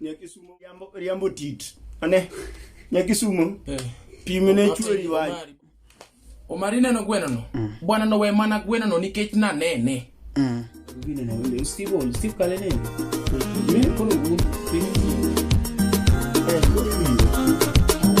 Nyakisumo riambo, riambo tit. Ane. Nyakisumo Eh. pimne chweri wach. Omari- Omari ineno gwenono? Bwana nowe mana gwenono nikech nanene. Mm. Steve Old, Steve Kalene. Mimi kono gumu. Eh, kono gumu.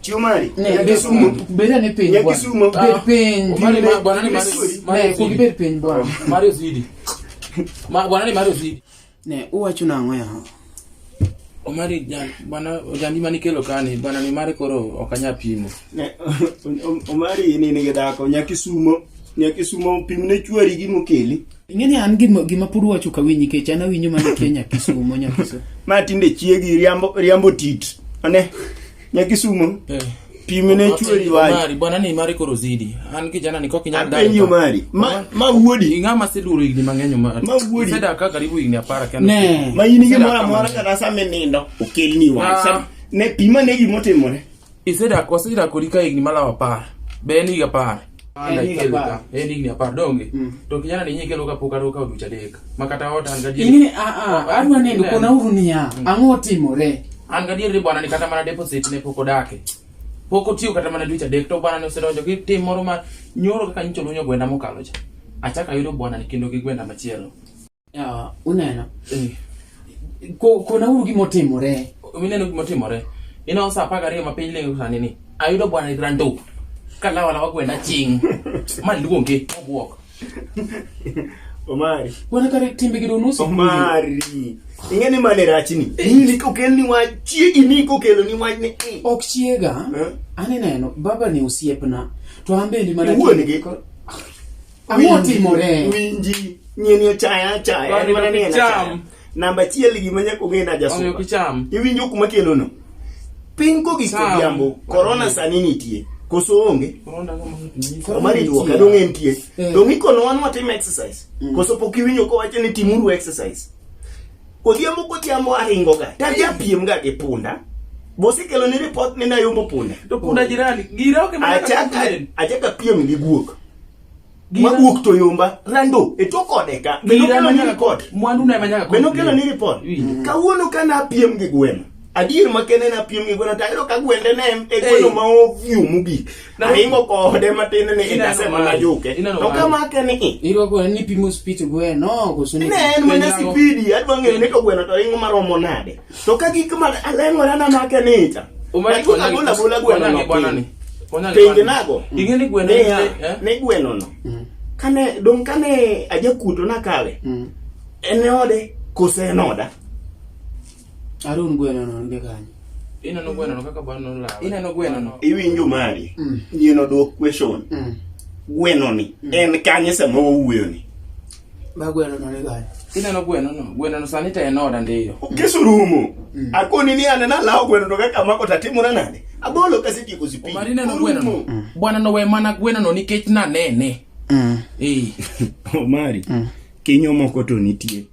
Chiw mari. Ne, Nyaki bed- sumo. bed ane piny Nyaki bwana. sumo. Bed piny. Oh, Mari, ma- bwana ni Mari- Mari Ne, osidi. bed piny bwana. Mari osidi. Ma- bwana ni Mari osidi. Ne, uwacho nang'o yawa? Omari jan- bwana ojambi mane ikelo kani bwana ni mare koro ok anya pimo Ne, Om- Omari ni nigi dhako, nyaki sumo. Nyaki sumo pimne chwari gi mokeli. Ing'eni an gima gima pod uwacho ka winyi kech an awinjo mana kia Nyakisumo Nyakisumo. Ma tinde chiegi riambo riambo tit. Ane. Nyakisumo. Eh. Pime ne chweri wai. Mari bwana ni mari koro zidi. An kijana niko kinyanda. ndani. Apenyo mari. Ma ma wuodi. Inga ma siduru igni mang'enyo mari. Ma wuodi. Seda ka karibu igni apara kende. Ne. Ma yini gi mara mara kana sa me nindo. Okel ni wai. Ah. Sam ne pima ne gi motimore. Iseda ko sida ko lika igni mala apara. Beni ga apara. Ana Enig ikelo apar. ka. Enig ni apar donge. Mm. To kijana ni nyinyi kelo ka pok ato ka oducha deka. Makata ota an gadier. ingine adwa neno kona uru niya ang'o otimore An gadier ni bwana ni kata mana deposit ne pok odake. Pok otiyo kata mana dweche adek to bwana ni osedonjo gi tim moro ma nyoro kaka nyicho lunyo gwenda mokalo cha. Achaka yudo bwana ni kendo gi gwenda machielo. Ah, uneno Eh, Ko- konauru gima otimore mineno gima otimore ineno sa apar gariyo ma piny lengo sani ni ayudo bwana irando kalawalawa gwenda ching maluonge obwok Omari. wana kare timbe gido nusu Omari. Ing'e ni mane rachni? Nini kokel ni wach chiegi ni kokelo ni wach ni. eh. ok chiega Eh? aneneno baba ni osiepna to an bende mana Iwuon gi. Ang'o timore? Winji nyeni ochaya achaya. En mana ni en achaya. Namba achiel gima nyaka ong'e na jasuba. Iwinjo kuma kelo no. Piny ko giko jambo, korona sani nitie. Koso onge? Omari duok, adong' en tie. Eh. Dong' ikono wan watim exercise. Mm. Koso pok iwinjo kowacho ni timuru exercise. Odhiambo kodhiambo aringo ga. Tadhi apiem ga gi punda. Bosi kelo ni report ni nayombo punda. To punda jirani. Gira oke mana. Achaka, achaka piem gi guok. mawuok to yomba rando e tok ode ka beno kelo ni report mwandu na manyaka beno kelo ni report kawuono ka na piem gi gweno adier ma kene na piem gi gweno tayro ka gwende ne en e gweno ma ovyu mugi na ingo ko ode matin ne e dase ma najuke to ka ma kene i iro ko ni pimo speed gweno ko suni ne en mana speed adwa ng'eyo ni to gweno to ingo maromo nade To ka gik ma aleng'ora na make nita. Umani kwa nani? Bula bula gweno no. Bwana ni. Pengi nago. Inge ni gweno ni. Eh? Ni gweno no. Mm. Kane dong kane aja kuto na kale. Mm. Ene ode kose noda. Arun gweno no nge kanyo. Ina no gweno no kaka bwana no la. Ina no gweno no. Iwinjo mari. Mm. Yeno dwok question. Mm. Gweno ni. Mm. En kanye sama owuyo ni. Ma gweno no ni gani? Ineno gweno no? Gweno no sani to en oda ndiyo. Kisurumo. Mm. Akoni ni anena lao gweno to kaka mako tatimore nade? Abolo kasi tieko sipi. Omari ineno gweno no? Mm. Mm. Bwana no we mana gweno no nikech na nene. Mm. Eh. Omari. Mm. Kinyo moko to nitie.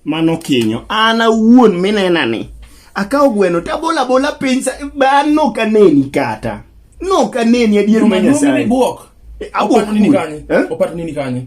Mano kinyo. Ana wuon minena ni. Akawo gweno tabola bola piny sa ba no kaneni kata. No kaneni adier ma Nyasaye. Mano ni bwok. Eh, Abuok nini kanye? Eh? Opata nini kanye?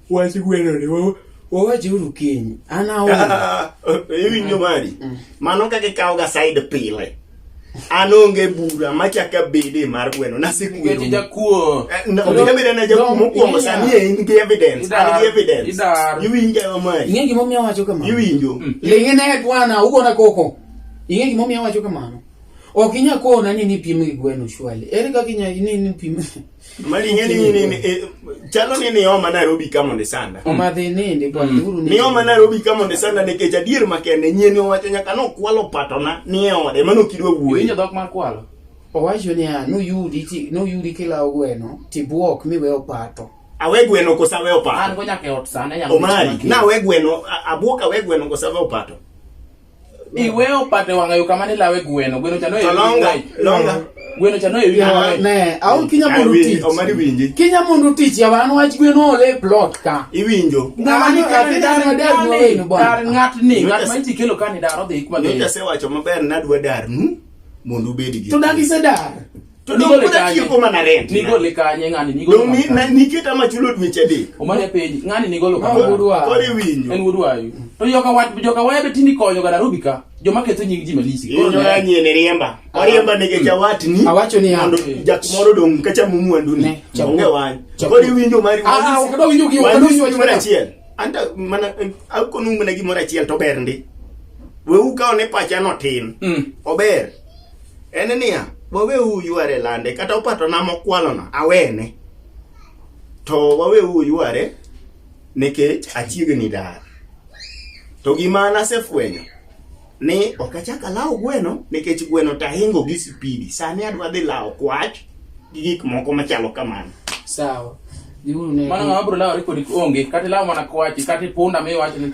Wach gweno ni wo. Wawach uru kiny. An aonge. Iwinjo mari? Mano kaka ikawo ga side pile. An onge bura machaka bede mar gweno nasekwero. Nikech ijakuo. Eh, no, Koro- Onego bede na jakuo mokwongo Iya. sani e in gi evidence. Idar. An gi evidence. Idar. Iwinjo yo mari? Ing'e gima omiyo awacho kamano? Iwinjo? Ling'e ne bwana, ugona koko. Ing'e gima omiyo awacho kamano? Ok inya kona ni nipim gi gweno shwali. Ere kaka inya ni nipim Mali ing'e ni ni- ni- eh, chalo ni nioma Nairobi ka mondo isanda. Omadhi nindi bwana uru nindi. Nioma Nairobi ka mondo isanda nikech adier makende nyien owacho nyaka nokwalo patona ni e ode mano kidwa Winjo wuoyi. dhok mar kwalo. Owacho niya noyudi ti noyudi kilawo gweno tibuok miwe opato. Awe gweno kosa we An opato. go nyaka e ot sane ya. Omari, na we gweno a- abwoka we gweno kosa we opato. Iwe opate wanga yo kamane lawe gweno. Gweno chano e. Longa. Longa. Gweno chano e. Ya ne, au kinya mundu tich. Omari winji. Kinya mundu tich ya wan wach gweno ole plot ka. Iwinjo. Ngani ka ti dar na dar no e no bon. Dar ngat ni, ngat ma ti kelo kani dar odhi kuma. Nyocha se wacho maber nadwa dar nu. Mundu bedi gi. To dagi se dar. To dong Nigole pod kanye? atieko mana rent. Nigole kanye ng'ani nigolo Dong ni- kanye? na- niketa ma chulo dweche adek. Omane penji ng'ani nigolo Ma kanye? wuodwa. Koro iwinjo. En wuodwa ayu. To joka wat joka waya be tindi konyo ga Nairobi ka. Joma ketho nying ji malisi. Koro Inyo ne- ya nyene riemba. Oriemba nige chawatni. Awacho ni ya. Mondo jak moro dong kacha mumu ni. Ne, chapu. Onge wany. Chapu. Koro iwinjo mari. Ah, ah, ok dong winjo gi- ok Wanyisi dong winjo gimoro wach- achiel. Anta mana eh, akonu mana gimoro achiel to ber ndi. Wewu kaone pacha no tin. Mm. Ober. en niya waweuru yware lande kata opatona mokwalona awene to waweuru yware nikech achiegni dar to gima nasefwenyo ni ok achak alawo gweno nikech gweno to ahingo gi sipidi sani adwa dhi lawo kwach gi gik moko machalo kamano sawa dhiuru ne mano ng'ama biro lawore kodi onge kata ilawo mana kwachi kata ipunda miwacho ni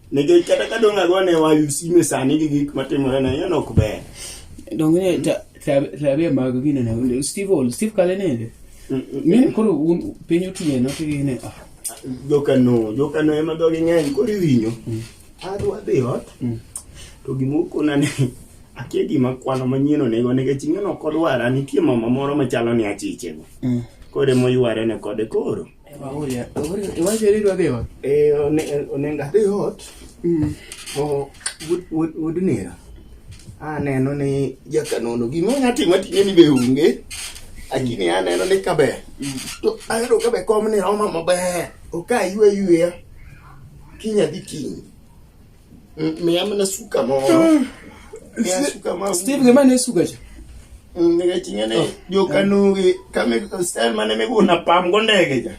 Nikech kata ka dong' agone wa usime sani gi gik matimore na yeno ok ber. Donge ne ta- ta- tabia mag gine na wende. Steve Ol, Steve Kale nende. Ne koro un- piny otieno to gine. ah, Jokano, jokano ema dhogi ng'eny koro iwinyo. Adwa dhi ot. To gima okona ni akia gima kwano manyien onego nikech ing'eno ok odwara nitie mama moro machalo ni achichego. Mm. Koro ema oyware ne kode koro. Oya, ore- iwacho ni idwa dhi ot? Eh, one- onego adhi ot to wud- wud- wud nera aneno ni jakanono gima onya timo ating'e ni be onge lakini aneno ni kaber to ayudo kabe kom ni roma maber ok aywe yweya kiny adhi kiny Mm, Me ama na suka mo. Me ama suka mo. Steve ngema ne suka cha. Mm, Nika chingene yo kanu ki kame style mane me kuna pam kondege cha.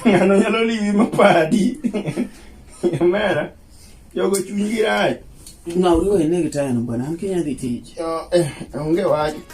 Ngano nyalo liwi mapadi. Mera. Yo go chungira. Ngawri wene kitaya no bwana, an kinya dhi tich. Yo eh onge waji.